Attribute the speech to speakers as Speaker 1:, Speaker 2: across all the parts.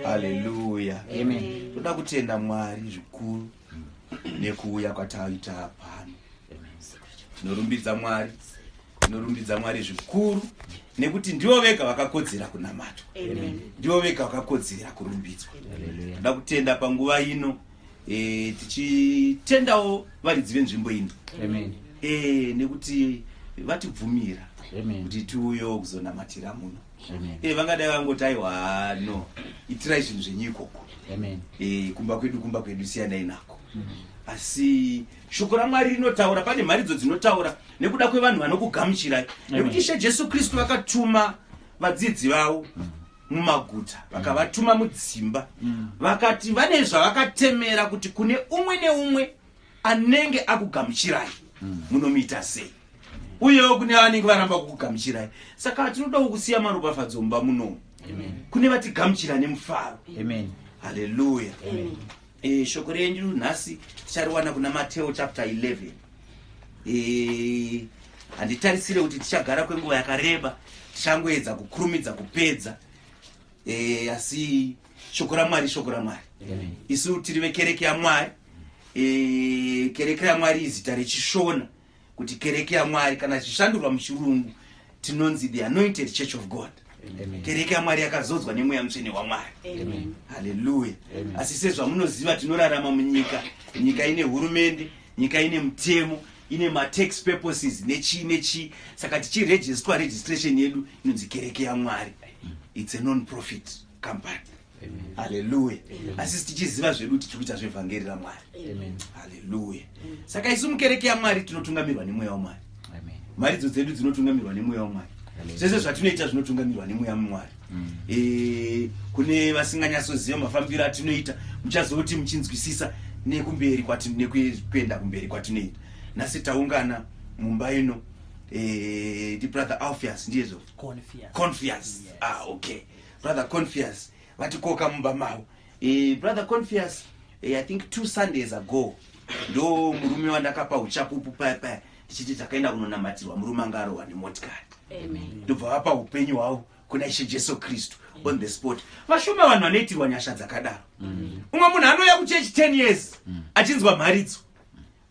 Speaker 1: haleluya amen toda kutenda mwari zvikuru nekuuya kwataita pano tinorumbidza mwari tinorumbidza mwari zvikuru nekuti ndivo vega vakakodzera kunamatwa ndivo vega vakakodzera kurumbidzwa toda kutenda panguva ino e, tichitendawo varidzi venzvimbo ino e, nekuti vatibvumira kuti tiuyewo kuzonamatira muno e, vangadai vangoti aiwa no itirai zvinhu zvenyu ikoko e, kumba kwedu kumba kwedu siyanai nako mm -hmm asi shoko ramwari rinotaura pane mharidzo dzinotaura nekuda kwevanhu vanokugamuchirai nekuti ishe jesu kristu vakatuma vadzidzi vavo mumaguta mm. vakavatuma mudzimba mm. vakati vane zvavakatemera kuti kune umwe neumwe anenge akugamuchirai mm. munomuita sei uyewo kune vanenge varamba kukugamuchirai saka tinodawo kusiya maropafadzo mumba munomu kune vatigamuchira nemufaro haleluya E, shoko renyu nhasi tichariwana kuna mateo chapter 11 e, handitarisire kuti tichagara kwenguva yakareba tichangoedza kukurumidza kupedza e, asi shoko ramwari shoko ramwari isu tiri vekereke yamwari e, kereke ramwari izita rechishona kuti kereke yamwari kana zvichishandurwa muchirungu tinonzi the anointed church of god kereke yamwari yakazodzwa nemweya mutsvene wamwari haleluya asi sezvamunoziva tinorarama munyika nyika ine hurumende nyika ine mutemo ine matax purposes nechii nechii saka tichiregistwa registration yedu inonzi kereke yamwari its a non profit company haleluya asi tichiziva zvedu kuti tiri kuita zvevhangeri ramwari haleluya saka isu mukereke yamwari tinotungamirwa nemweya wamwari mharidzo dzedu dzinotungamirwa nemweya wamwari zvese zvatinoita zvinotungamirwa nemweya mwari mm. eh, kune vasinganyatsoziva mafambiro atinoita muchazoti muchinzwisisa nekumberi nekuenda kumberi kwatinoita nhasi taungana mumba ino eh, ndibrother alfias ndiyezvo confias ah, okay brother confias vatikoka mumba mavo e, brother confias e, eh, i think two sundays ago ndo murume wandakapa uchapupu paya paya ndichiti takaenda kunonamatirwa murume anga arohwa nemotikari ndobva vapa upenyu hwavo kuna ishe jesu kristu on the spot vashoma vanhu vanoitirwa nyasha dzakadaro mm. umwe munhu anouya kuchechi 10 years mm. achinzwa mharidzo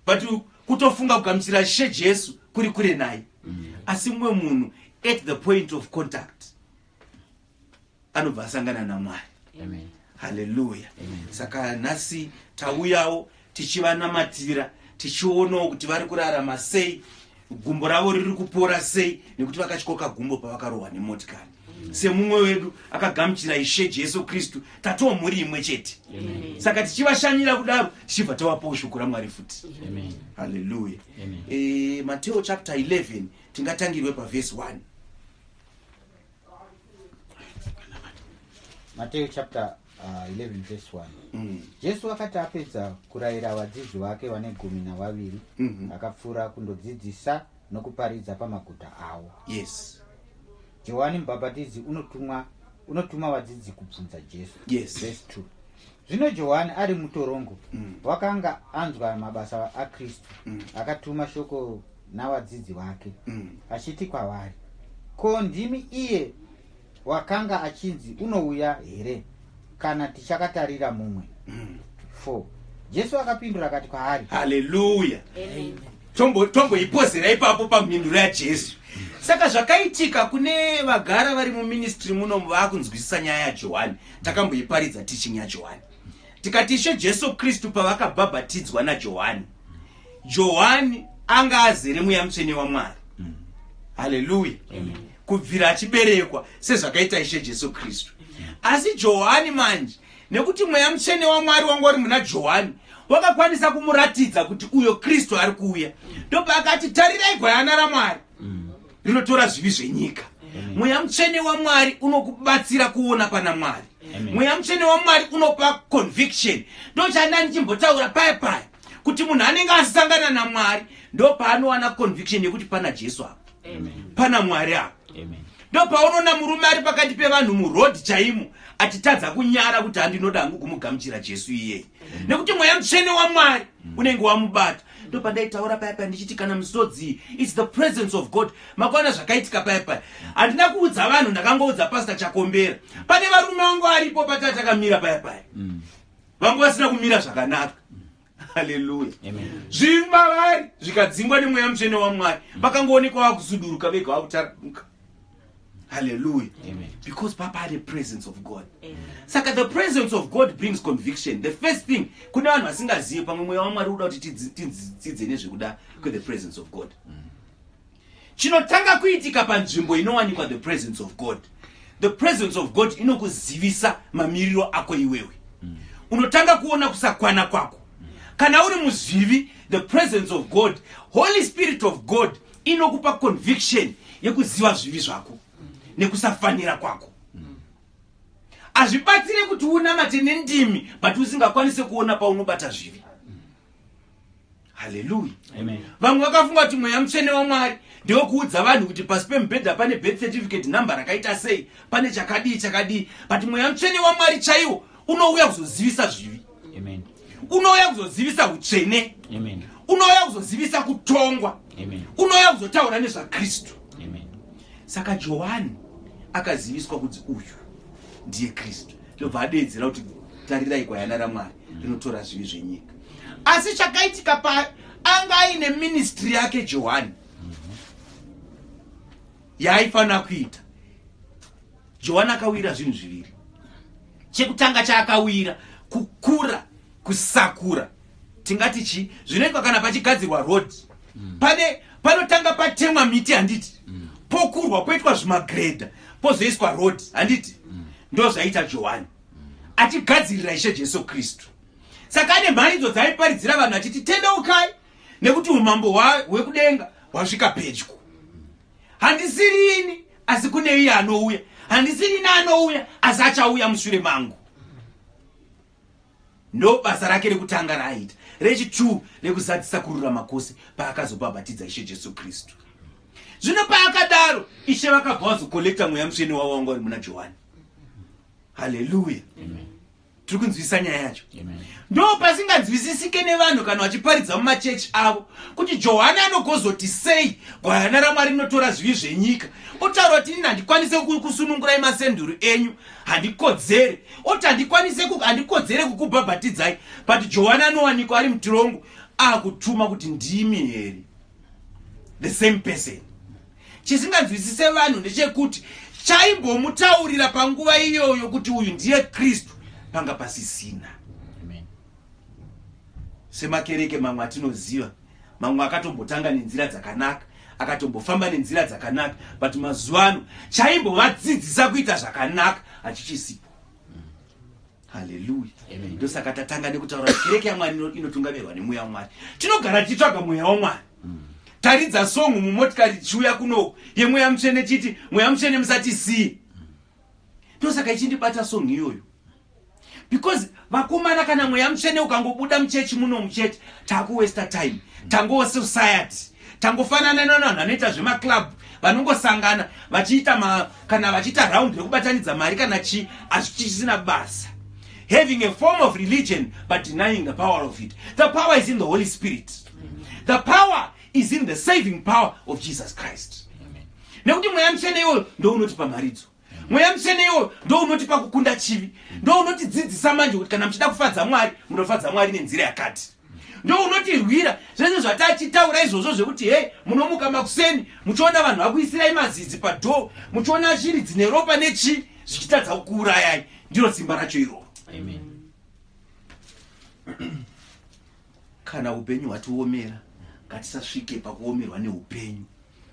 Speaker 1: but kutofunga kugamuchira ishe jesu kuri kure naye mm. asi mumwe munhu at the point of contact anobva asangana namwari haleluya saka nhasi tauyawo tichivanamatira tichionawo kuti vari kurarama sei gumbo ravo riri kupora sei nekuti vakatyoka gumbo pavakarohwa nemotikari semumwe wedu akagamuchira ishe jesu kristu tatoo mhuri imwe chete saka tichivashanyira kudaro tichibva tavapowo shoko ramwari futi haleluya e, mateo chapter 11 tingatangirwe pavhesi 1
Speaker 2: mateyo chapter uh, 11 verse 1 mm. jesu akati apedza kurayira vadzidzi vake vane gumi navaviri mm -hmm. akapfuura kundodzidzisa nokuparidza pamaguta avo yes johani mubhabhatidzi unotumwa unotuma vadzidzi kubvunza jesu yes. verse 2 Zvino Johani ari mutorongo mm. wakanga anzwa mabasa aKristu mm. akatuma shoko navadzidzi vake mm. achiti kwavari, Ko ndimi iye wakanga achinzi unouya here kana tichakatarira mumwe? 4 mm. Jesu akapindura akati kwaari, Haleluya!
Speaker 1: Tomboipozera ipapo pamhinduro yaJesu. Saka zvakaitika kune vagara vari muministry muno vakunzwisisa nyaya yaJohani. takamboiparidza teaching yajohani tikati ishe jesu kristu pavakabhabhatidzwa najohani johani anga azere mweya mutsvene wamwari haleluya kubvira achiberekwa sezvakaita ishe jesu kristu asi johani manje nekuti mweya mutsvene wamwari wanga uri muna johani wakakwanisa kumuratidza kuti uyo kristu ari kuuya ndopaakati tarirai gwayana ramwari rinotora zvivi zvenyika mweya mutsvene wamwari unokubatsira kuona pana mwari mweya mutsvene wamwari unopa conviction ndochanda ndichimbotaura paya paya kuti munhu anenge asangana namwari ndo paanowana conviction yekuti pana jesu apa pana mwari apa ndo paunoona murume ari pakati pevanhu muroad chaimo achitadza kunyara kuti handinoda hangu kumugamuchira jesu iyeyi nekuti mweya mutsvene wamwari unenge wamubata ndopandaitaura paya paya ndichiti kana musodzi its the presence of god makaona zvakaitika paya paya handina kuudza vanhu ndakangoudza pasta chakombera pane varume vangu aripo pataa takamira paya paya mm. vangu vasina kumira zvakanaka haleluya zvimba vari zvikadzingwa nemweya mutsvene wamwari vakangoonekwa vakusuduruka vega vakutaramuka Hallelujah. Amen. Because
Speaker 3: Papa had the
Speaker 1: presence of God. Amen. Saka the presence of God brings conviction. The first thing, kuna vanhu vasingazivi pamwe mweya waMwari uda kuti tidzidze nezvekuda kwe the presence of God. Mm. Chinotanga kuitika panzvimbo inowanikwa the presence of God. The presence of God inokuzivisa mamiriro ako iwewe. Mm. Unotanga kuona kusakwana kwako. Mm. Kana uri muzvivi, the presence of God, Holy Spirit of God inokupa conviction yekuziva zvivi zvako nekusafanira kwako hazvibatsire kuti unamate nendimi but usingakwanise kuona paunobata zvivi haleluya vamwe
Speaker 3: vakafunga kuti
Speaker 1: mweya mutsvene wamwari ndewekuudza vanhu kuti pasi pemubhedha pane birth certificate number rakaita sei pane chakadii chakadii but mweya mutsvene wamwari chaiwo unouya kuzozivisa zvivi Amen.
Speaker 3: unouya
Speaker 1: kuzozivisa utsvene Amen. unouya
Speaker 3: kuzozivisa
Speaker 1: kutongwa Amen. unouya
Speaker 3: kuzotaura
Speaker 1: nezvakristu Amen.
Speaker 3: saka
Speaker 1: johani akaziviswa kuti uyu ndiye kristu ndobva adeedzera kuti tarirai gwayana ramwari rinotora zvivi zvenyika asi chakaitika pa anga aine ministry yake johani yaaifanira kuita johani akawira zvinhu zviviri chekutanga chaakawira kukura kusakura tingati chii zvinoitwa kana pachigadzirwa road mm. pane panotanga patemwa miti handiti mm. pokurwa poitwa zvimagredha pozoiswa road handiti mm. ndo zvaita johani achigadzirira ishe jesu kristu saka ane mharidzo dzaiparidzira vanhu achiti tendeukai nekuti umambo hwekudenga hwasvika pedyo handisiri ini asi kune iye anouya handisiri ini anouya asi achauya mushure mangu ndo basa rake rekutanga raaita rechitwu rekuzadzisa kururama kwose paakazobhabhatidza ishe jesu kristu zvino paakadaro ishe vakabva vazokolekta mweya musvene wavo wanga vari muna johani haleluya
Speaker 3: tiri kunzwisisa
Speaker 1: nyaya yacho ndo pasinganzwisisike nevanhu kana vachiparidza mumachechi avo kuti johani anogozoti sei gwayana ramwari rinotora zvivi zvenyika otaura kuti ini handikwanise kusunungurai masenduru enyu handikodzere oti handikwanise handikodzere kukubhabhatidzai but johani anowanikwa ari mutirongo akutuma kuti ndimi here the same person chisinganzwisise vanhu ndechekuti chaimbomutaurira panguva iyoyo kuti uyu ndiye kristu panga pasisina semakereke mamwe atinoziva mamwe akatombotanga nenzira dzakanaka akatombofamba nenzira dzakanaka but mazuva ano chaimbovadzidzisa kuita zvakanaka hachichisipo haleluya ndosaka
Speaker 3: tatanga nekutaura
Speaker 1: kereke yamwari inotungamirwa nemweya wamwari tinogara tichitsvaga mweya wamwari mm. taridza songu mumotikari tichiuya kuno yemweya mutsvene chiti mweya mutsvene musati sii ndosaka ichindibata songu iyoyo because vakomana kana mweya mutsvene ukangobuda muchechi muno muchete takuwesta time tangowo society tangofanana nonanhu anoita zvemaclub vanongosangana vachiita ma kana vachiita round rekubatanidza mari kana chii asi chisina basa having a form of religion but denying the power of it the power is in the holy spirit the power is in the saving power of jesus christ nekuti mweya mutsvene iwoyo ndounotipa mharidzo mweya mutsvene iwoyo ndounotipa kukunda chivi ndounotidzidzisa manje kuti kana muchida kufadza mwari munofadza mwari nenzira yakati ndounotirwira zvese zvatachitaura izvozvo zvekuti hei munomuka makuseni muchiona vanhu vakuisirai mazidzi padhoo muchiona shiri dzine ropa nechii zvichitadza kukuurayai ndiro simba racho iroro kana upenyu hwatiomera ngatisasvike pakuomerwa neupenyu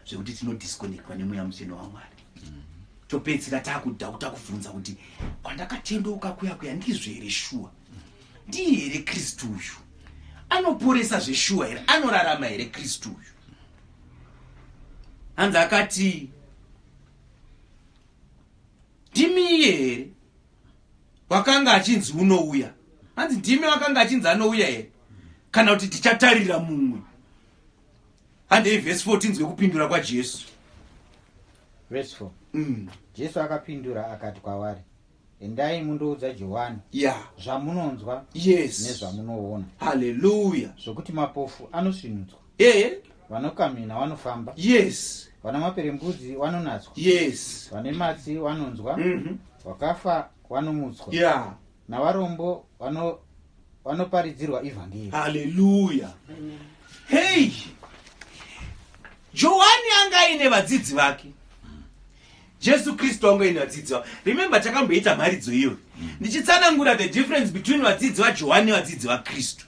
Speaker 1: zvekuti tinodisconnectwa nemweya mutsvene wamwari topedzisira takuda kuta kubvunza kuti kwandakatendeuka kuya kuya ndizvo here shuwa ndiye here kristu uyu anoporesa zveshuwa here anorarama here kristu uyu hanzi akati ndimiye here wakanga achinzi unouya hanzi ndimi wakanga achinzi anouya here kana kuti tichatarira mumwe handei vhesi 4 tinzwe kupindura kwajesu
Speaker 2: vhesi 4 mm. jesu akapindura akati kwavari endai mundoudza johani yeah. zvamunonzwa yes. nezvamunoona haleluya
Speaker 1: zvokuti mapofu
Speaker 2: anosvinudzwa eh? vanokamhina vanofamba yes vana maperembudzi vanonatswa yes vane matsi vanonzwa mhm. vakafa mm -hmm. vanomutswa yeah. navarombo vano vanoparidzirwa ivhangeri haleluya
Speaker 1: hei johani anga aine vadzidzi vake Jesu Kristu wangu ini vadzidzi vavo. Remember takamboita mharidzo iyoyo ndichitsanangura the difference between vadzidzi vaJohani nevadzidzi vaKristu.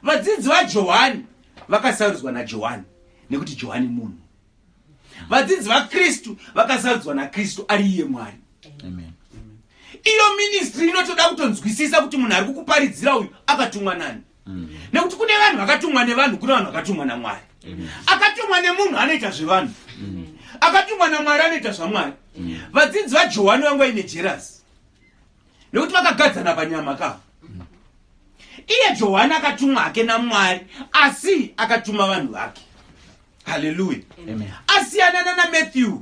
Speaker 1: Vadzidzi vaJohani vakasarudzwa naJohani nekuti Johani munhu. Vadzidzi vaKristu vakasarudzwa naKristu ari iye Mwari. Amen.
Speaker 2: Iyo
Speaker 1: ministry inotoda kutonzwisisa kuti munhu ari kukuparidzira uyu akatumwa nani. nekuti kune vanhu vakatumwa nevanhu kune vanhu vakatumwa namwari akatumwa nemunhu anoita zvevanhu akatumwa namwari anoita zvamwari vadzidzi vajohwani vangu vaine jerasi nekuti vakagadzana panyama ka iye johani akatumwa hake namwari asi akatuma vanhu vake haleluya asiyanana namatthew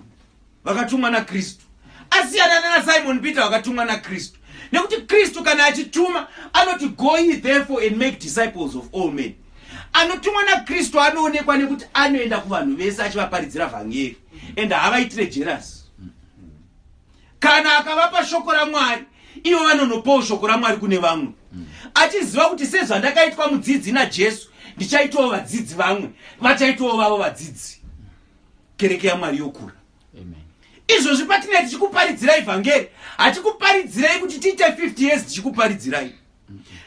Speaker 1: vakatumwa nakristu asiyana nana simon peter vakatumwa nakristu nekuti kristu kana achituma anoti go ye therefore and make disciples of all men anotumwa nakristu anoonekwa nekuti anoenda kuvanhu vese achivaparidzira vhangeri and havaitire jerasi kana akavapa shoko ramwari ivo vanonopawo shoko ramwari kune vamwe achiziva kuti sezvandakaitwa mudzidzi najesu ndichaitawo vadzidzi vamwe vachaitawo vavo vadzidzi kereke yamwari yokura izvozvi patinei tichikuparidzirai vhangeri hatikuparidzirai kuti tiite 50 years tichikuparidzirai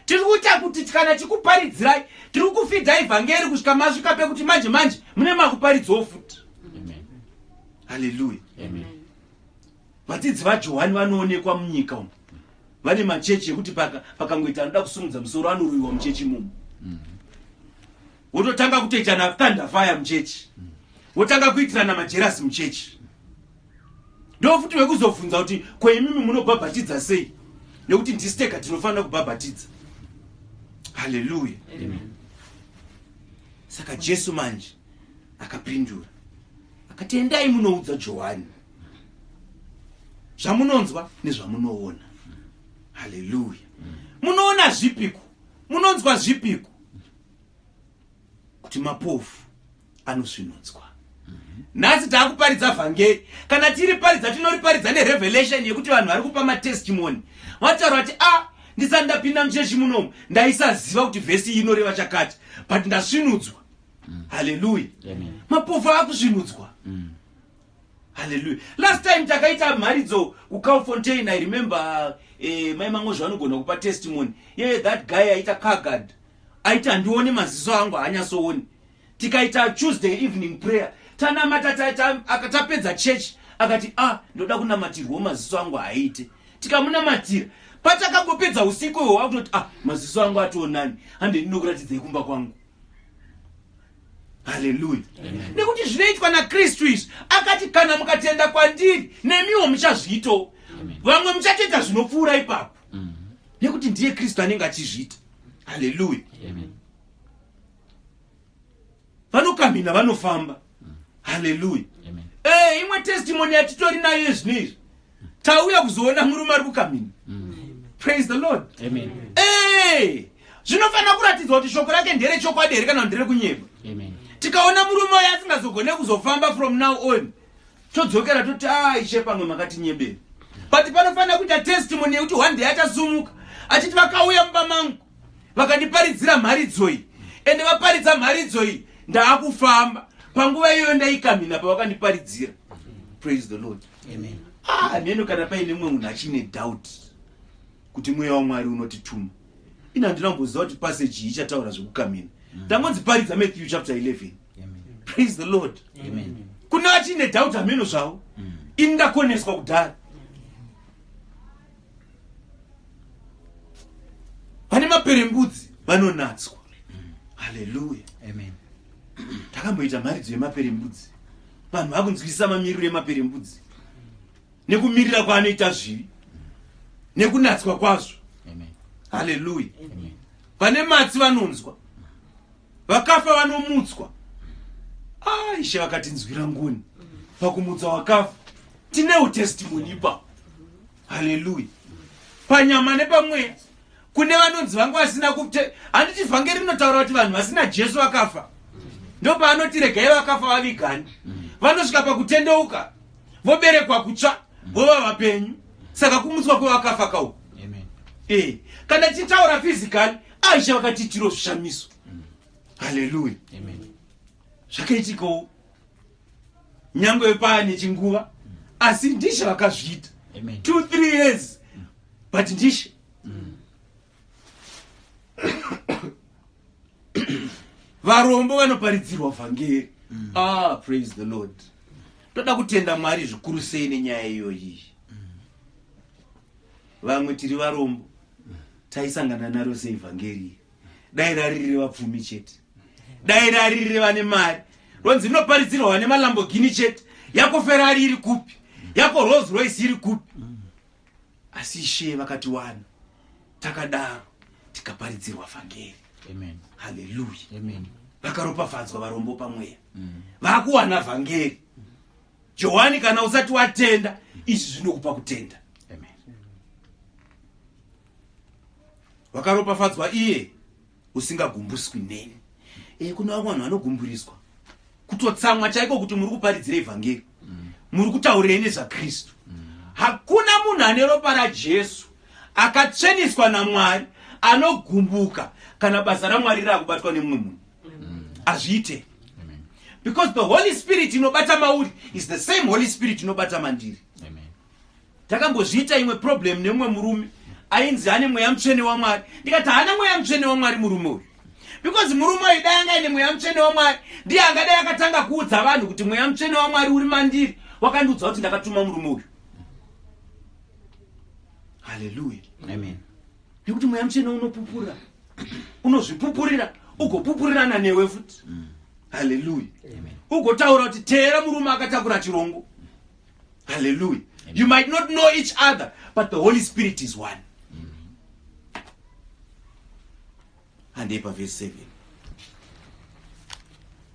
Speaker 1: tiri kuita kuti kana tikuparidzirai tiri kufidhai vhangeri kusvika masvika pekuti manje manje mune makuparidzawo futi haleluya vadzidzi vajohani vanoonekwa munyika umu vane machechi ekuti pakangoita anoda kusumudza musoro anoroyiwa muchechi mumu mm -hmm. wototanga kutoitana thunder fire muchechi wotanga kuitirana majerasi muchechi ndofuti vekuzobvunza kuti kweimimi munobhabhatidza sei nekuti ndisteka tinofanira kubhabhatidza haleluya saka jesu manje akapindura akati endai munoudza johani zvamunonzwa nezvamunoona haleluya munoona zvipiko munonzwa zvipiko kuti mapofu anosvinudzwa nhasi taakuparidza vhangeri kana tiriparidza tinoriparidza nerevelation yekuti vanhu vari kupa matestimony vataura kuti a ah, ndisati ndapinda muchechi munomu ndaisaziva kuti vhesi iyi inoreva chakati but ndasvinudzwa haleluya mapofu akusvinudzwa mm. Hallelujah. Last time takaita mharidzo kuCow Fontaine, I remember eh, mai Mangozva vanogona kupa testimony. Ye yeah, that guy aita car guard. Aita ndione maziso angu haanyasooni. Tikaita Tuesday evening prayer. Tanamata akatapedza church akati ah ndoda kunamatirwa maziso angu haaite. Tikamunamatira patakangopedza usiku iwo wakutoti ah maziso angu ationani hande ndinokuratidzei kumba kwangu. haleluya nekuti zvinoitwa nakristu izvi akati kana mukatenda kwandiri nemiwo muchazviitawo vamwe muchatoita zvinopfuura ipapo mm. nekuti ndiye kristu anenge achizviita haleluya vanokamhina vanofamba mm. haleluya eh, imwe testimony yatitori nayo yezvino izvi tauya kuzoona murume ari kukamini mm. praise the lord amen hey! zvinofanira kuratidzwa kuti shoko rake ndere chokwadi here kana ndere kunyeba tikaona murume uyo asingazogone kuzofamba from now on todzokera toti aishe ah, pamwe makatinyebera but panofanira kuita testimony yekuti one day achasumuka achiti vakauya mumba mangu vakandiparidzira mharidzoi ende vaparidza mharidzoi ndaakufamba panguva iyoyo ndaikamhina pavakandiparidzira praise the lord hameno ah, kana paine mumwe munhu achiine doubt kuti mweya wamwari unotituma ini handina kumboziva kuti paseji iyi ichataura zvekukamina mm. ndangonziparidza matthew chapter 11 praise the lord kune achiine doubt hameno zvavo mm. ini ndakoneswa kudhara vane maperembudzi vanonatswa haleluya amen takamboita mharidzo yemaperembudzi vanhu vakunzwisisa mamiriro emaperembudzi nekumirira kwaanoita zvivi nekunatswa kwazvo haleluya vane matsi vanonzwa vakafa vanomutswa aishe vakatinzwira ngoni pakumutsa wakafa tinewo testimony ipapo haleluya panyama nepamweya kune vanonzi vangu vasina kute handiti vhangeri rinotaura kuti vanhu vasina jesu vakafa ndopaanoti regai vakafa vavigani vanosvika pakutendeuka voberekwa kutsva vova vapenyu saka kumutswa kwevakafa kawo e eh, kana tichitaura fizikali aisha vakatiitiro zvishamiso haleluya
Speaker 3: zvakaitikawo
Speaker 1: nyangwe paane chinguva asi ndishe vakazviita two three
Speaker 3: years
Speaker 1: but ndishe mm. varombo vanoparidzirwa vhangeri mm. ah praise the lord toda kutenda mwari zvikuru sei nenyaya iyoyi mm. vamwe tiri varombo taisangana naro seivhangeri dai raririre vapfumi chete dai raririre vane mari ronzi rinoparidzirwa vane malambogini chete yako ferari iri kupi yako rolls royce iri kupi asi ishe vakatiwana takadaro tikaparidzirwa vhangeri
Speaker 3: haleluya vakaropafadzwa
Speaker 1: varombo pamweya mm. vakuwana vhangeri johani kana usati watenda izvi zvinokupa kutenda wakaropafadzwa iye usingagumbuswi neni e, kune vamwe vanhu vanogumburiswa kutotsamwa chaiko kuti muri kuparidzira evhangeri mm. muri kutaurei nezvakristu mm. hakuna munhu ane ropa rajesu akatsveniswa namwari anogumbuka kana basa ramwari raakubatwa nemumwe munhu mm. hazviite because the holy spirit inobata mauri is the same holy spirit inobata mandiri
Speaker 3: Takambozviita
Speaker 1: imwe problem nemumwe murume ainzi ane mweya mutsvene waMwari ndikati haana mweya mutsvene waMwari murume uyu because murume uyu dai anga ine mweya mutsvene waMwari ndiye angadai akatanga kuudza vanhu kuti mweya mutsvene waMwari uri mandiri wakandiudza kuti ndakatuma murume uyu haleluya amen
Speaker 3: nekuti mweya
Speaker 1: mutsvene unopupura unozvipupurira ugopupurirana newe futi haleluya
Speaker 3: ugotaura kuti
Speaker 1: teera murume akatakura chirongo hallelujah Amen. you might not know each other but the holy spirit is one handei mm-hmm. paverse seven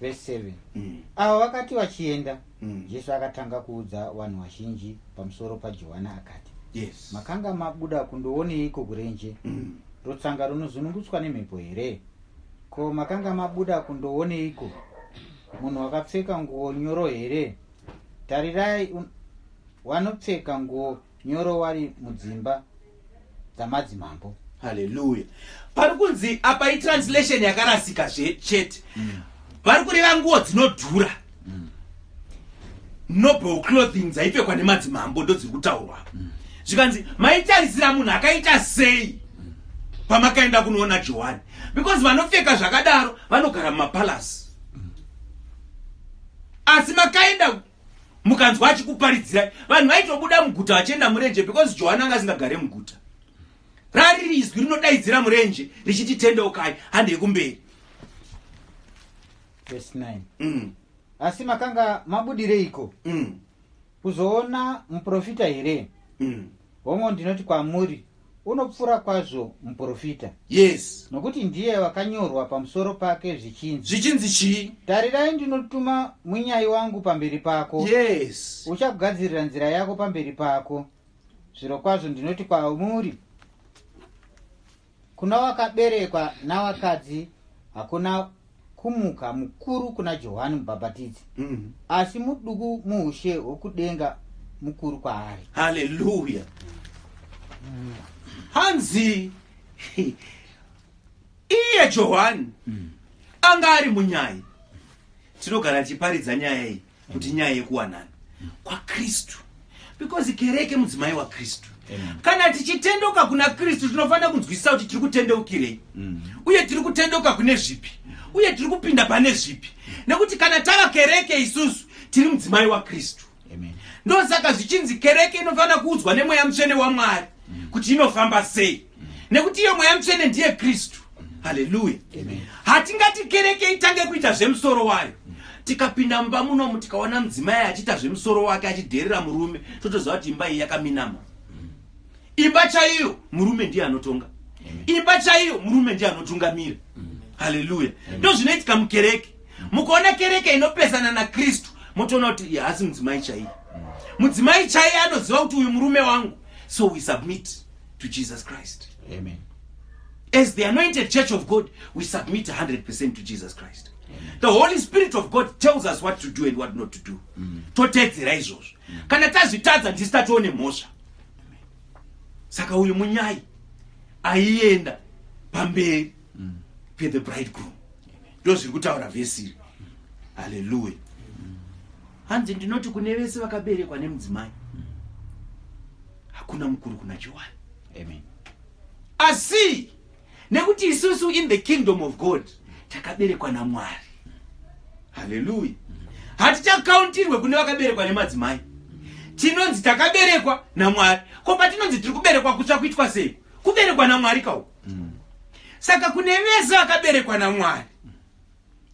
Speaker 2: verse seven mm. avo vakati vachienda mm. jesu akatanga kuudza vanhu vazhinji pamusoro pajohana akati yes makanga
Speaker 1: mabuda
Speaker 2: kundooneiko kurenje mm. rutsanga runozunungutswa nemhepo here ko makanga mabuda kundooneiko munhu wakapfeka nguo nyoro here tarirai un... wanopfeka nguo nyoro wari mudzimba dzamadzimambo haleluya
Speaker 1: pari kunzi apa itranslation yakarasika zve chete mm. vari kureva nguo dzinodhura mm. noble clothing dzaipfekwa nemadzimambo ndo dziri kutaurwa mm. zvikanzi maitarisira munhu akaita sei pamakaenda kunoona johani because vanopfeka zvakadaro vanogara mumapalasi asi makaenda mukanzwa achikuparidzirai vanhu vaitobuda muguta vachienda murenje because johani anga asingagare muguta rariri izwi rinodaidzira murenje richiti tendeukai handei kumberi
Speaker 2: mm. asi makanga mabudireiko mm. Kuzoona muprofita here? Mm. Hongo ndinoti kwamuri unopfuura kwazvo muprofita yes nokuti
Speaker 1: ndiye
Speaker 2: wakanyorwa pamusoro pake zvichinzi zvichinzi chii
Speaker 1: tarirai ndinotuma
Speaker 2: munyai wangu pamberi pako yes
Speaker 1: uchagadzirira nzira
Speaker 2: yako pamberi pako zviro kwazvo ndinoti kwamuri Kuna wakaberekwa navakadzi hakuna kumuka mukuru kuna Johani Mubhabhatidzi, mm. asi muduku muushe hwokudenga mukuru kwaari. Haleluya! Mm.
Speaker 1: Hanzi iye Johani mm. anga ari munyai. Tinogara tichiparidza nyaya iyi. kuti nyaya yekuwanana kwakristu because kereke mudzimai wakristu kana tichitendoka kuna kristu tinofanira kunzwisisa kuti tiri kutendeukirei mm. uye tiri kutendoka kune zvipi uye tiri kupinda pane zvipi nekuti kana tava kereke isusu tiri mudzimai wakristu ndosaka zvichinzi kereke inofanira kuudzwa nemweya mutsvene wamwari mm. kuti inofamba sei nekuti iye mweya mutsvene ndiye kristu haleluya hatingati kereke itange kuita zvemusoro wayo tikapinda mumba munomu tikaona mudzimai achiita zvemusoro wake achidherera murume totoziva kuti imba iyi yakaminama imba chaiyo murume ndiye anotonga imba chaiyo murume ndiye anotungamira haleluya ndo zvinoitika mukereke mukaona kereke inopesana nakristu motoona kuti hasi mudzimai chaiye mudzimai chaiye anoziva kuti uyu murume wangu so we submit to jesus christ Amen.
Speaker 3: as
Speaker 1: the anointed church of god we submit 100 percent to jesus christ the holy spirit of god tells us what to do and what not to do toteedzera izvozvo kana tazvitadza ndisi tatoone mhosva saka uyu munyai aienda pamberi pethe bridegroom ndo zviri kutaura vhesi iri haleluya hanzi ndinoti kune vese vakaberekwa nemudzimai hakuna mukuru kuna johani amen
Speaker 2: asi
Speaker 1: nekuti isusu in the kingdom of god takaberekwa namwari haleluya hatichakauntirwe kune vakaberekwa nemadzimai tinonzi takaberekwa namwari ko patinonzi tiri kuberekwa kutsva kuitwa sei kuberekwa namwari kauko saka kune vese vakaberekwa namwari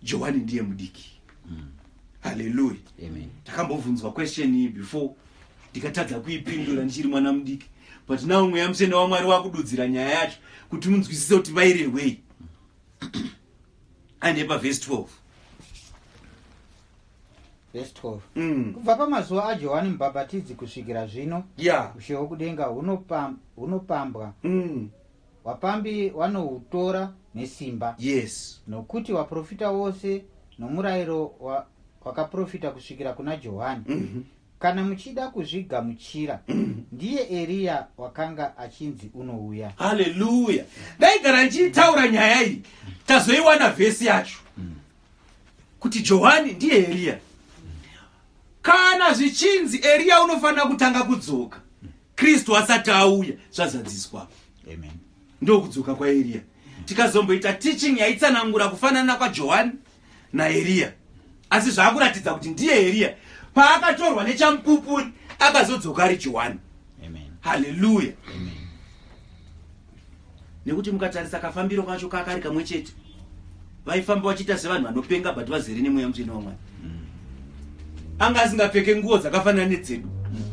Speaker 1: johani ndiye mudiki haleluya Amen.
Speaker 2: ndakambobvunzwa question
Speaker 1: iyi before ndikatadza kuipindura ndichiri mwana mudiki but now mweya mutsvene wamwari wakududzira nyaya yacho kuti munzwisise kuti vairehwei ane pavhesi 12 Verse 12.
Speaker 2: Mm. kubva pamazuva ajohani mubhabhatidzi kusvikira zvino ya ushe hwokudenga hunopam- hunopambwa Mm. Vapambi vanohutora nesimba. Yes. Nokuti
Speaker 1: vaprofita
Speaker 2: vose nomurayiro wa, wakaprofita kusvikira kuna Johani. Mm -hmm. Kana muchida kuzvigamuchira, mm -hmm. ndiye Eriya wakanga achinzi unouya. Haleluya!
Speaker 1: Ndaigara ndichitaura nyaya iyi, tazoiwana vhesi yacho. Mm -hmm. kuti johani ndiye eriya kana zvichinzi eriya unofanira kutanga kudzoka kristu asati auya zvazadziswa
Speaker 2: ndokudzoka
Speaker 1: kwaeriya tikazomboita teaching yaitsanangura kufanana kwajohani naeriya asi zvaakuratidza kuti ndiye eriya paakatorwa nechamupupuri akazodzoka ari johani
Speaker 2: haleluya
Speaker 1: Amen. nekuti mukatarisa kafambiro kacho kakari kamwe chete vaifamba vachiita sevanhu vanopenga but vazere nemweya mutsvene wamwari mm. anga asingapfeke nguo dzakafanana nedzedu mm.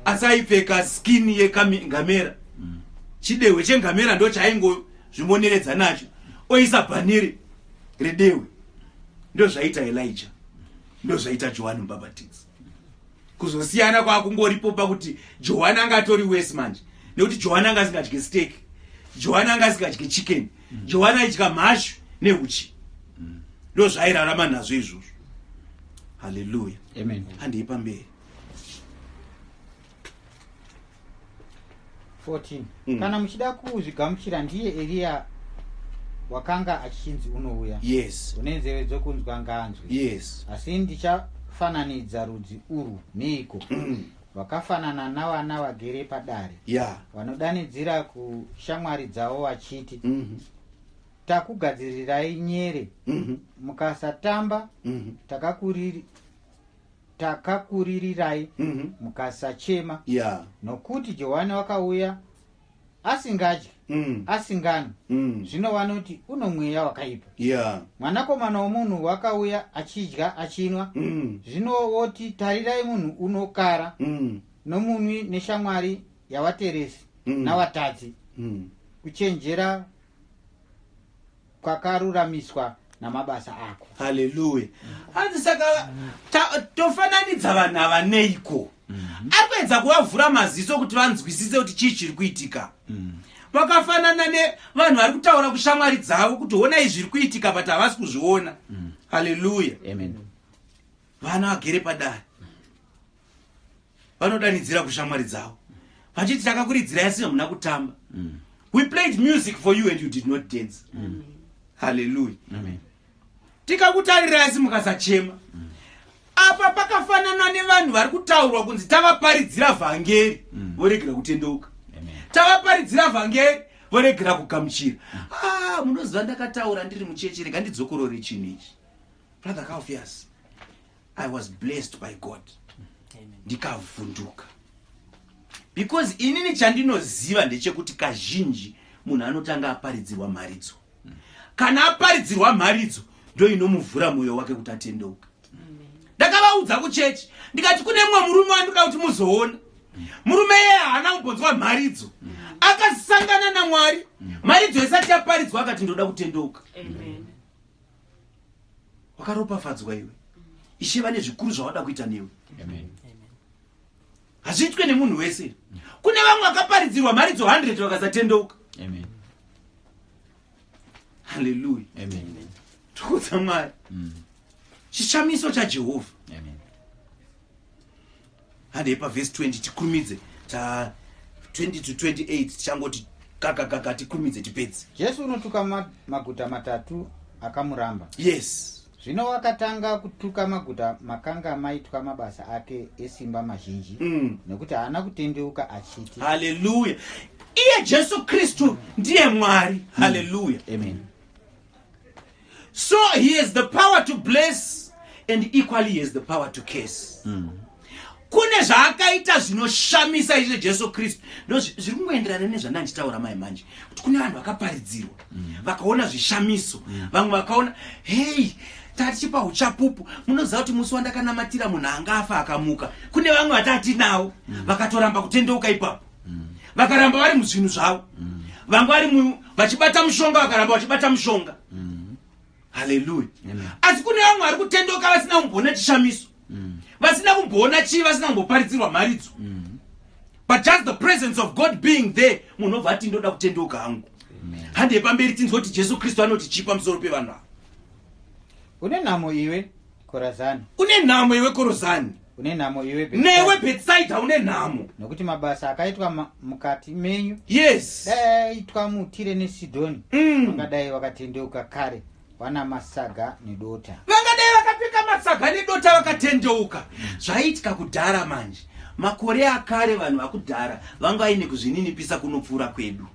Speaker 1: asi aipfeka skin yengamera mm. chidehwe chengamera ndo chaaingozvimoneredza nacho oisa bhaniri redehwe ndozvaita elija ndozvaita johani mubhabhatidzi kuzosiyana kwakungoripo pakuti johani anga atori wese manje nekuti johani anga asingadye stake johani anga asingadye chicken mm. johani aidya mhashu neuchi mm. ndo zvairarama nazvo izvozvo haleluya
Speaker 2: handei pamberi 14 Mm. kana muchida kuzvigamuchira ndiye eriya wakanga achichinzi unouya yes une nzeve
Speaker 1: dzokunzwa
Speaker 2: ngaanzwe yes asi ndichafananidza rudzi urwu neiko Mm. vakafanana navana vagere padare ya vanodanidzira kushamwari dzavo vachiti Mhm. takugadzirirai nyere Mhm. mukasatamba Mhm. takakuriri- takakuririrai Mhm. mukasachema Yeah. nokuti johani wakauya asingadyi Mm. asinganwi Mm. zvino vanoti uno mweya wakaipa Yeah. mwanakomana womunhu wakauya achidya achinwa Mm. zvino woti tarirai munhu unokara Mm. nomunwi neshamwari yavateresi Mm. navatadzi Mm. kuchenjera kwakaruramiswa namabasa ako haleluya
Speaker 1: hanzi saka tofananidza vanhu ava neiko mhm. ari kuedza kuvavhura maziso kuti vanzwisise kuti chii chiri kuitika mhm. vakafanana nevanhu vari kutaura kushamwari dzavo kuti honai zviri kuitika but havasi kuzviona mhm. haleluya
Speaker 2: vana
Speaker 1: vagere padare vanodanidzira kushamwari dzavo vachiti takakuridzira yasi hamuna kutamba mm. we played music for you and you did not dance mm. halleluya
Speaker 2: tikakutarirai
Speaker 1: asi mukasachema mm. apa pakafanana nevanhu vari kutaurwa kunzi tavaparidzira vhangeri mm. voregera kutendeuka tavaparidzira vhangeri voregera kugamuchira mm. ah, munoziva ndakataura ndiri mucheche rega ndidzokorore chinhu ichi brother kaufiyasi i was blessed by god ndikavhunduka because inini chandinoziva ndechekuti kazhinji munhu anotanga aparidzirwa mharidzo kana aparidzirwa mharidzo ndo inomuvhura mwoyo wake kuti atendeuka ndakavaudza kuchechi ndikati kune mumwe murume wandinoda kuti muzoona murume yeye haana kumbonzwa mharidzo akasangana namwari mharidzo yesati yaparidzwa akati ndoda kutendeuka Amen. wakaropafadzwa iwe ishe vane zvikuru zvavada kuita newe hazviitwe nemunhu wese kune vamwe vakaparidzirwa mharidzo 100 vakasatendeuka haleluya tokudza mwari mm. chishamiso chajehovha handei pavhesi 20 tikurumidze ta 20 to 28 tichangoti kakakaka tikurumidze tipedze jesu unotuka ma,
Speaker 2: maguta matatu akamuramba yes
Speaker 1: zvino wakatanga
Speaker 2: kutuka maguta makanga maitwa mabasa ake esimba mazhinji mm. nekuti haana kutendeuka achiti haleluya
Speaker 1: iye jesu kristu ndiye mwari mm. haleluya amen so he has the power to bless and equally he has the power to case mm. kune zvaakaita zvinoshamisa izvo jesu kristu ndo zviri kungoenderana nezvanda ndichitaura mai manje kuti kune vanhu vakaparidzirwa mm. vakaona zvishamiso mm. vamwe vakaona hei tatichipa uchapupu munoziva kuti musi wandakanamatira munhu anga afa akamuka kune vamwe vatati nawo mm. vakatoramba kutendeuka ipapo mm. vakaramba vari muzvinhu zvavo mm. vanga vari vachibata mushonga vakaramba vachibata mushonga mm. haleluya asi kune vamwe vari kutendoka vasina kumboona chishamiso mm. vasina kumboona chii vasina kumboparidzirwa mharidzo mm. but just the presence of god being there munhu obva ati ndoda kutendoka hangu handei pamberi tinzwa kuti jesu kristu anoti chii pamusoro pevanhu ava
Speaker 2: une nhamo iwe korazani une nhamo iwe
Speaker 1: korazani une nhamo iwe
Speaker 2: Bethsaida. newe bhetsaidha une
Speaker 1: nhamo nokuti mabasa akaitwa
Speaker 2: ma- mukati menyu yes dai
Speaker 1: aitwa
Speaker 2: mutire nesidhoni Mm. vangadai vakatendeuka kare wana masaga nedota vangadai vakapfeka
Speaker 1: masaga nedota vakatendeuka zvaiitika kudhara manje makore akare vanhu vakudhara vanga vaine kuzvininipisa kunopfuura kwedu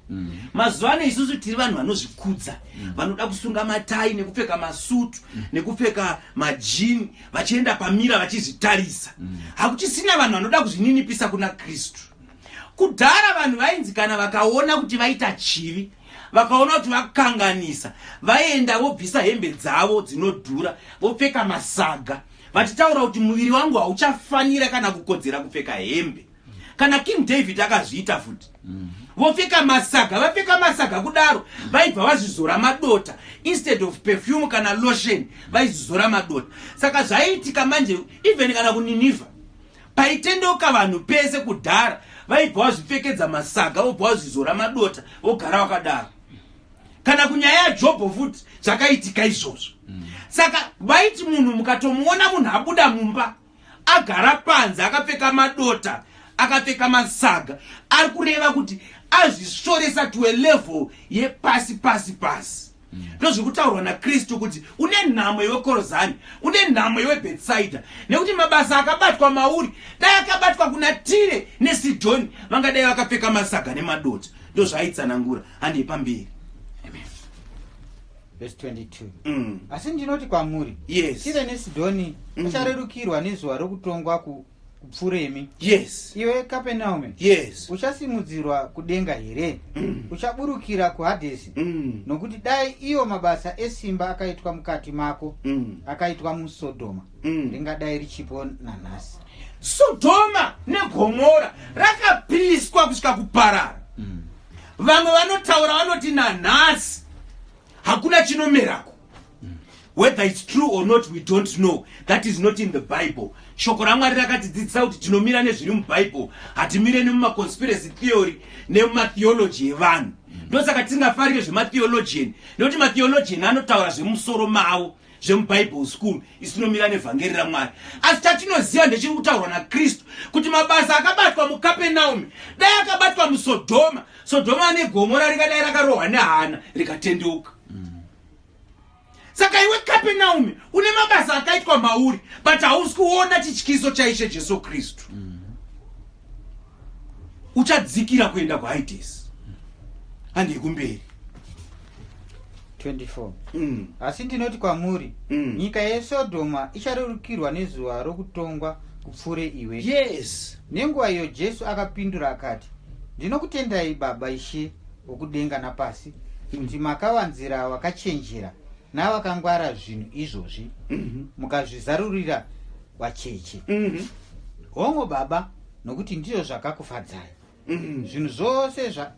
Speaker 1: mazuva ano isusu tiri vanhu vanozvikudza vanoda kusunga matai nekupfeka masutu nekupfeka majini vachienda pamira vachizvitarisa mm. hakuchisina vanhu vanoda kuzvininipisa kuna kristu kudhara vanhu vainzi kana vakaona kuti vaita chivi vakaona kuti vakanganisa vaenda vobvisa hembe dzavo dzinodhura vopfeka masaga vachitaura kuti muviri wangu hauchafanira kana kukodzera kupfeka hembe kana king david akazviita futi mm. vopfeka masaga vapfeka masaga kudaro vaibva vazvizora madota instead of perfume kana lotion vaizvizora madota saka zvaiitika manje even kana kuniniva paitendeuka vanhu pese kudhara vaibva vazvipfekedza masaga vobva vazvizora madota vogara vakadaro kana kunyaya yajobho futi zvakaitika izvozvo mm. saka vaiti munhu mukatomuona munhu abuda mumba mm. agara panze akapfeka madota akapfeka masaga ari kureva kuti azvisvoresa to a level yepasi pasi pasi mm. ndozviri kutaurwa nakristu kuti une nhamo iwe korozani une nhamo iwe bhetsaida nekuti mabasa akabatwa mauri dai akabatwa kuna tire nesidhoni vangadai vakapfeka masaga nemadota ndozvaaitsanangura handei pamberi
Speaker 2: vhesi 22 mm. asi ndinoti kwamuri yes. tire nesidhoni mm. acharerukirwa nezuva rokutongwa ku kupfuremi yes. iwe
Speaker 1: kapenaume
Speaker 2: yes.
Speaker 1: uchasimudzirwa
Speaker 2: kudenga here mm. uchaburukira kuhadhesi mm. nokuti dai iyo mabasa esimba akaitwa mukati mako mm. akaitwa musodhoma mm. ringadai richipo nanhasi sodhoma
Speaker 1: negomora rakapiswa kusvika kuparara Vamwe vanotaura vanoti nanhasi hakuna chinomerako. Whether it's true or not we don't know. That is not in the Bible. Shoko raMwari rakatidzidzisa kuti tinomira nezviri muBible, hatimire nemumaconspiracy theory nematheology evanhu. Ndosaka tisingafarire zvematheologian nekuti matheologian anotaura zvemusoro mavo. zvemuBible School isu tinomira nevhangeri raMwari asi chatinoziva ndechiri kutaurwa naKristu kuti mabasa akabatwa muKapenaumi dai akabatwa muSodhoma Sodhoma ane gomora ringadai rakarohwa nehana rikatendeuka saka iwe Kapenaumi une mabasa akaitwa mauri but hausi kuona chityiso chaIshe Jesu Kristu mm. uchadzikira kuenda kuhides handi yekumberi 24
Speaker 2: mm. asi ndinoti kwamuri mm. nyika yesodhoma icharerukirwa nezuva rokutongwa kupfuure iwe yes nenguva
Speaker 1: iyo jesu
Speaker 2: akapindura akati ndinokutendai baba ishe wokudenga napasi kuti mm. makawanzira wakachenjera navakangwara zvinhu izvozvi mm -hmm. mukazvizarurira wachechi mm -hmm. hongo baba nokuti ndizvo zvakakufadzai mm -hmm. zvinhu zvose zva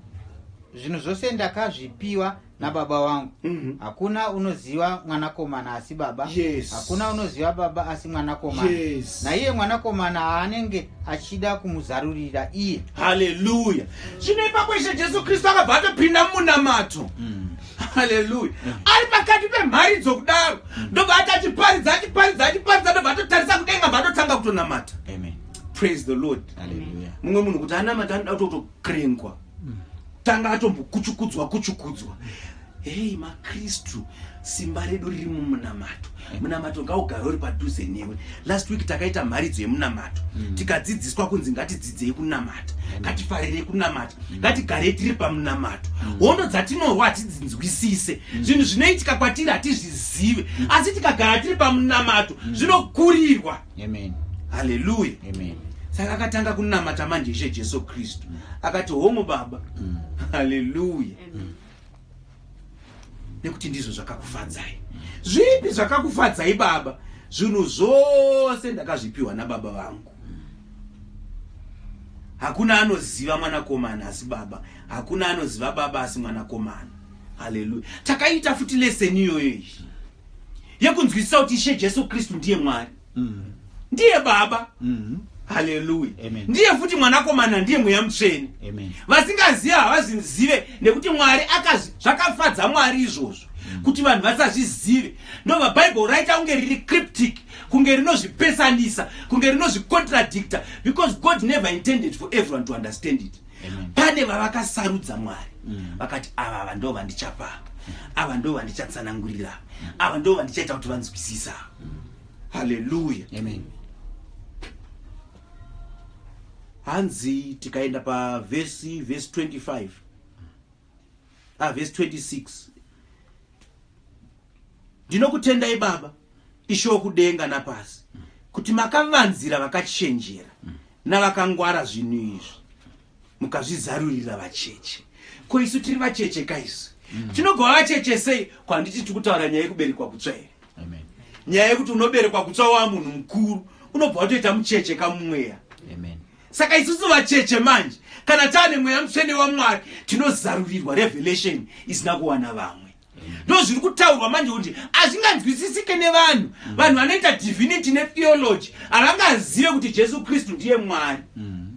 Speaker 2: zvinhu zvose ndakazvipiwa nababa wangu mm -hmm. hakuna unoziva mwanakomana asi baba yes. hakuna unoziva
Speaker 1: baba
Speaker 2: asi mwanakomana yes. naiye
Speaker 1: mwanakomana
Speaker 2: aanenge achida kumuzarurira iye haleluya
Speaker 1: zvino ipapo ishe jesu kristu akabva atopinda mumunamato mm. haleluya ari pakati pemharidzo kudaro ndobva ati achiparidza achiparidza achiparidza ndobva atotarisa kudenga bva atotanga kutonamata praise the lord mumwe munhu kuti anamata
Speaker 2: anoda
Speaker 1: kutotokrengwa mm. tanga atombokuchukudzwa kuchukudzwa hei makristu simba redu riri mumunamato munamato ngaugare uri padhuze newe last week takaita mharidzo yemunamato mm. tikadzidziswa kunzi ngatidzidzei kunamata mm. ngatifarirei kunamata mm. ngatigarei tiri pamunamato mm. hondo dzatinorwa hatidzinzwisise mm. zvinhu mm. zvinoitika kwatiri hatizvizive mm. asi tikagara tiri pamunamato mm. zvinokurirwa mm.
Speaker 2: haleluya saka akatanga
Speaker 1: kunamata manje ishe jesu kristu mm. akati homo baba mm. haleluya mm. nekuti ndizvo zvakakufadzai zvipi zvakakufadzai baba zvinhu zvose ndakazvipiwa nababa vangu hakuna anoziva mwanakomana asi baba hakuna anoziva baba asi mwanakomana haleluya takaita futi leseni iyoyo iyi yekunzwisisa kuti ishe jesu kristu ndiye mwari mm. ndiye baba mm. haleluya ndiye futi
Speaker 2: mwanakomana
Speaker 1: ndiye mweya mutsvene vasingazive havazvizive nekuti mwari zvakafadza mwari izvozvo mm. kuti vanhu vasazvizive ndobva bhaibheri raita kunge riri cryptic kunge rinozvipesanisa kunge rinozvicontradicta because god never intended for everyone to understand it pane
Speaker 2: vavakasarudza
Speaker 1: mwari mm. vakati ava vando vandichapaa ava ndo vandichatsanangurira ava ndo vandichaita kuti vanzwisisa haleluya amen hanzi tikaenda pavhesi vhesi 25 ah, vhesi 26 ndinokutendai baba ishe wokudenga napasi kuti makavanzira vakachenjera navakangwara zvinhu izvi mukazvizarurira vacheche ko isu tiri vacheche ka isu mm. tinogova vacheche sei ko handiti tiri kutaura nyaya yekuberekwa kutsva here nyaya
Speaker 2: yekuti
Speaker 1: unoberekwa kutsva waa munhu mukuru unobva watoita mucheche kamumweya
Speaker 2: saka isusu
Speaker 1: vacheche manje kana taane mweya mutsvene wamwari tinozarurirwa revelation isina kuwana vamwe ndo zviri kutaurwa manje kuti hazvinganzwisisike nevanhu mm. vanhu vanoita divinity netheology havangazive kuti jesu kristu ndiye mwari mm.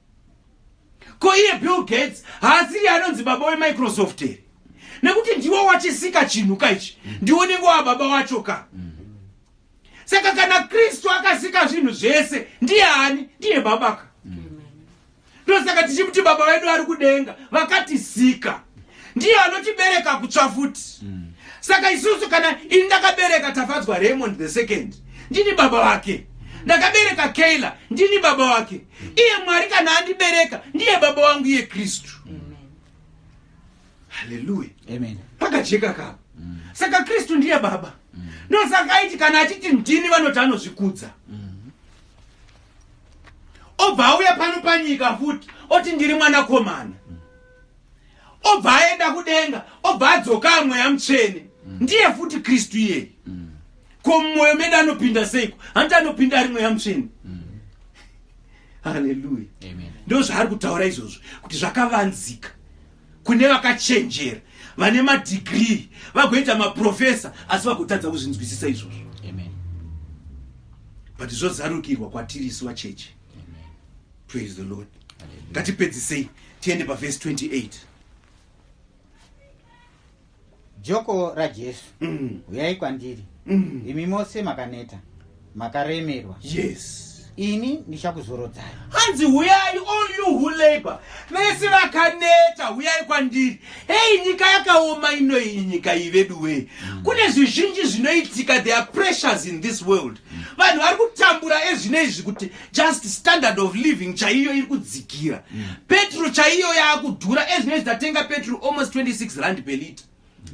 Speaker 1: ko iye bill gates haasiri anonzi baba wemicrosoft here nekuti ndiwo wachisika chinhu ka ichi ndiwo nenge wa baba wacho ka saka kana kristu akasika zvinhu zvese ndiye ani ndiye baba ka ndosaka tichimuti baba vedu vari kudenga vakatisika ndiye anotibereka kutsva futi saka isusu kana ini ndakabereka tafadzwa raymond the second ndini baba vake ndakabereka kayla ndini baba vake iye mwari kana andibereka ndiye baba wangu iye kristu haleluya pakajeka
Speaker 2: kavo
Speaker 1: mm. saka kristu ndiye baba mm. ndosaka aiti kana achiti ndini vanoti anozvikudza mm. obva auya pano panyika futi oti ndiri mwanakomana obva aenda kudenga obva adzokaa mweya mutsvene mm. ndiye futi kristu iyeye mm. ko mumwoyo medu anopinda seiko hanti anopinda ari mweya mutsvene mm. haleluya ndo zvaari
Speaker 2: kutaura
Speaker 1: izvozvo kuti zvakavanzika kune vakachenjera vane madhigrii vagoita maprofesa asi vagotadza kuzvinzwisisa izvozvo but zvozarukirwa kwatiri isi vacheche
Speaker 2: praise the lord
Speaker 1: ngatipedzisei tiende pavhesi 28
Speaker 2: joko rajesu mm. uyai kwandiri mm. imi mose makaneta makaremerwa yes
Speaker 1: ini
Speaker 2: ndichakuzorodzai hanzi huyai
Speaker 1: all you who labor vese vakaneta huyai kwandiri hei nyika yakaoma ino iyi nyika iyi veduwei mm. kune zvizhinji zvinoitika there are pressures in this world mm. vanhu vari kutambura ezvino izvi kuti just standard of living chaiyo iri kudzikira mm. petro chaiyo yaakudhura ezvinoi zitatenga petro almost 26 rand per lita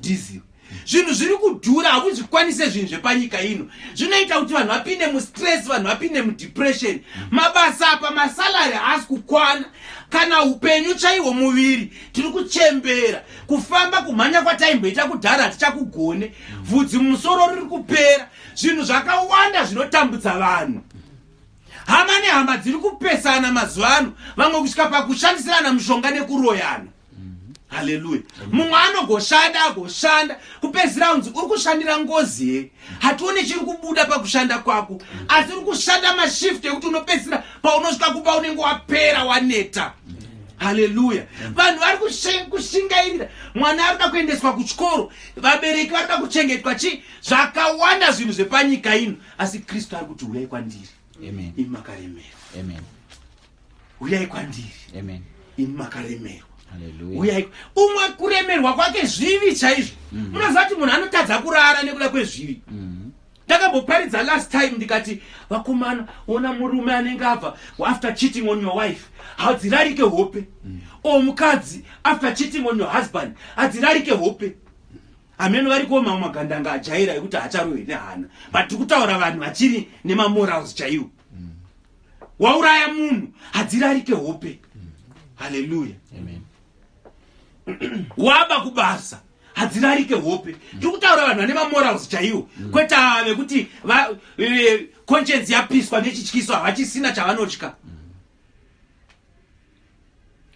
Speaker 1: diesel zvinhu zviri kudhura hakuzvikwanise zvinhu zvepanyika ino zvinoita kuti vanhu vapinde mustress vanhu vapinde mudepression mabasa apa masalary haasi kukwana kana upenyu chaihwo muviri tiri kuchembera kufamba kumhanya kwataimboita kudhara hatichakugone vhudzi mumusoro riri kupera zvinhu zvakawanda zvinotambudza vanhu Hama nehama dziri kupesana mazuva ano, vamwe kusvika pakushandisirana mushonga nekuroyana. Haleluya. Mumwe anogoshanda agoshanda kupedzisira unzi uri kushandira ngozi here? Hatione chiri kubuda pakushanda kwako, asi uri kushanda mashift ekuti unopedzisira paunosvika kumba unenge wapera waneta. Haleluya. Vanhu vari kushe- kushingairira, mwana ari kuda kuendeswa kuchikoro, vabereki vari kuda kuchengetwa chii, zvakawanda zvinhu zvepanyika ino. asi kristu ari kuti huyai kwandiri imi makaremerwa huyai kwandiri imi makaremerwa uyai umwe kuremerwa kwake zvivi chaizvo mhm. munoziva kuti munhu anotadza kurara nekuda kwezvivi mhm. ndakamboparidza last time ndikati vakomana ona murume anenge abva after cheating on your wife hadzirarike hope mhm. o mukadzi after cheating on your husband hadzirarike hope Ameno variko mamwe magandanga ajaira ekuti hacharohwe nehana but tiri kutaura vanhu vachiri nemamorals chaiwo mm. wauraya munhu hadzirarike hope mm. haleluya waba kubasa hadzirarike hope mm. tiri kutaura vanhu vane mamorals chaiwo mm. kwete ava vekuti e, conscience yapiswa nechityiso havachisina chavanotya mm.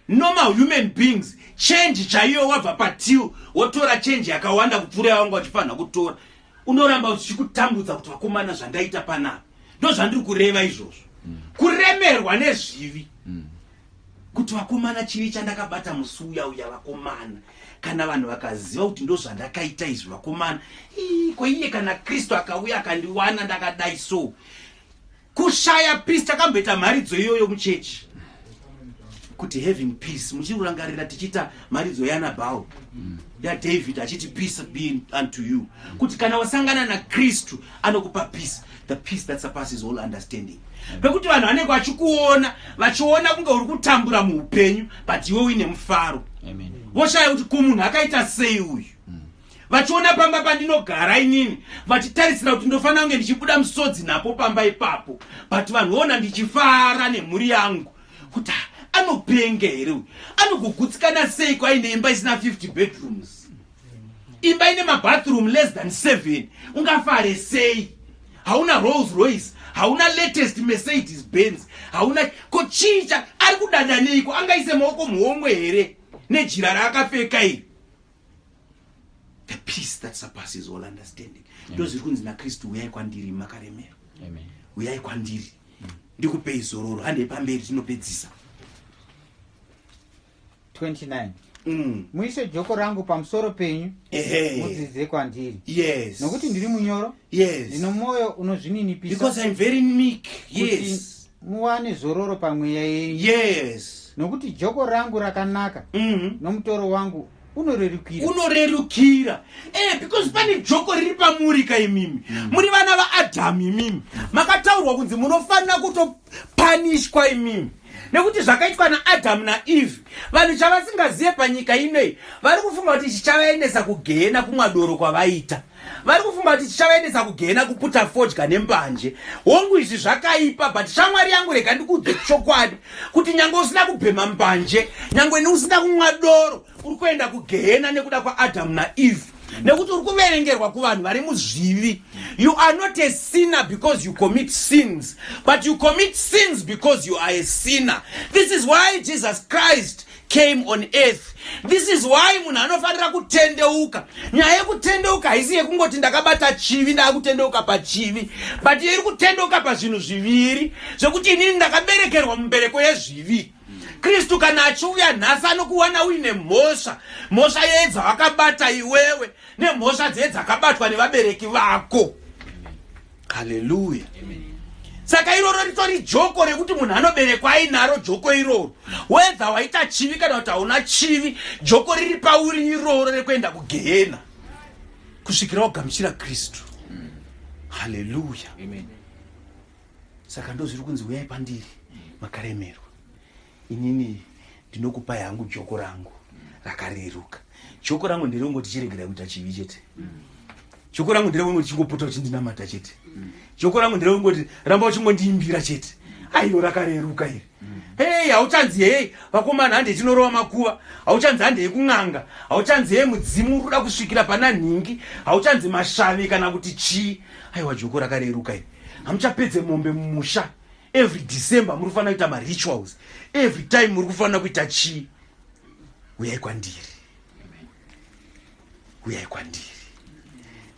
Speaker 1: normal human beings change chaiyo wabva patil wotora change yakawanda kupfuura yawanga uchifanira kutora unoramba uchichikutambudza kuti vakomana zvandaita panapa ndo zvandiri kureva izvozvo kuremerwa nezvivi kuti vakomana chivi chandakabata musi uya uya vakomana kana vanhu vakaziva kuti ndo zvandakaita izvi vakomana ko iye kana kristu akauya akandiwana ndakadai so Kushaya peace takamboita mharidzo iyoyo muchechi kuti having peace muchirangarira tichiita mharidzo yanabhau mm. yadavid achiti peace be unto you kuti kana wasangana nakristu anokupa peace the peace that surpasses all understanding pekuti vanhu vanenge vachikuona vachiona kunge uri kutambura muupenyu but iwe uine mufaro voshaya kuti kumunhu akaita sei uyu vachiona pamba pandinogara inini vachitarisira kuti ndofanira kunge ndichibuda musodzi napo pamba ipapo but vanhu voona ndichifara nemhuri yangu kuti anopenge here uyu anogogutsikana seiko aine imba isina 50 bedrooms imba ine mabathroom less than 7 ungafare sei hauna rolls royce hauna latest mercedes benz hauna ko chicha ari kudada neiko angaise maoko muhomwe here nejira raakapfeka iri the peace that surpasses all understanding ndo zviri kunzi nakristu uyai kwandiri makaremera uyai kwandiri mm. ndikupei zororo handei pamberi tinopedzisa 29
Speaker 2: mm. muise joko rangu pamusoro penyu mudzidze kwandiri yes. nokuti ndiri
Speaker 1: munyoro
Speaker 2: yes. ndino mwoyo unozvininipisakuti
Speaker 1: muwane zororo
Speaker 2: pamweya yenyu yes nokuti
Speaker 1: joko
Speaker 2: rangu rakanaka mm. nomutoro wangu unorerukira unorerukira
Speaker 1: eh, because pane joko riri pamuri ka imimi mm. muri vana vaadhamu imimi makataurwa kunzi munofanira kutopanishwa imimi nekuti zvakaitwa naadhamu naeve vanhu chavasingazive panyika inoi vari kufunga kuti chichavaendesa kugehena kumwadoro kwavaita vari kufunga kuti chichavaendesa kugena kuputa fodya nembanje hongu izvi zvakaipa but shamwari yangu rega ndikuudze chokwadi kuti nyange usina kubhema mbanje nyange neusina kunwa doro uri kuenda kugehena nekuda kwaadhamu naeve nekuti uri kuverengerwa kuvanhu vari muzvivi you are not a sinner because you commit sins but you commit sins because you are a sinner this is why jesus christ came on earth this is why munhu anofanira kutendeuka nyaya yekutendeuka haisi yekungoti ndakabata chivi ndakutendeuka pachivi but iri kutendeuka pazvinhu zviviri zvekuti inini ndakaberekerwa mumbereko yezvivi kristu kana achiuya nhasi anokuwana uine mhosva mhosva yeye dzawakabata iwewe nemhosva dzeye dzakabatwa nevabereki vako haleluya saka iroro ritori joko rekuti munhu anoberekwa ainaro joko iroro wedha waita chivi kana kuti hauna chivi joko riri pauri iroro rekuenda kugehena kusvikira wagamuchira kristu haleluya saka ndozviri kunzi uyai pandiri makaremerwa Inini ndinokupai hangu joko rangu rakareruka. Joko rangu nderongoti chiregerai kuita chivi chete. Joko rangu nderongoti chingopota uchindinamata chete. Joko rangu nderongoti ramba uchingondiimbira chete. Aiyo rakareruka iri. Hey, hauchanzi hey, vakomana hande tinorova makuva. Hauchanzi hande yekun'anga. Hauchanzi hey, mudzimu uri kuda kusvikira pana nhingi. Hauchanzi mashavi kana kuti chii. Aiwa joko rakareruka iri. Hamuchapedze mombe mumusha. every december muri kufanira kuita marituals every time muri kufanira kuita chii uyai kwandiri uyai kwandiri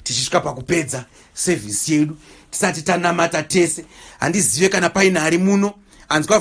Speaker 1: tichisvika pakupedza sevhisi yedu tisati tanamata tese handizive kana paine ari muno anzwa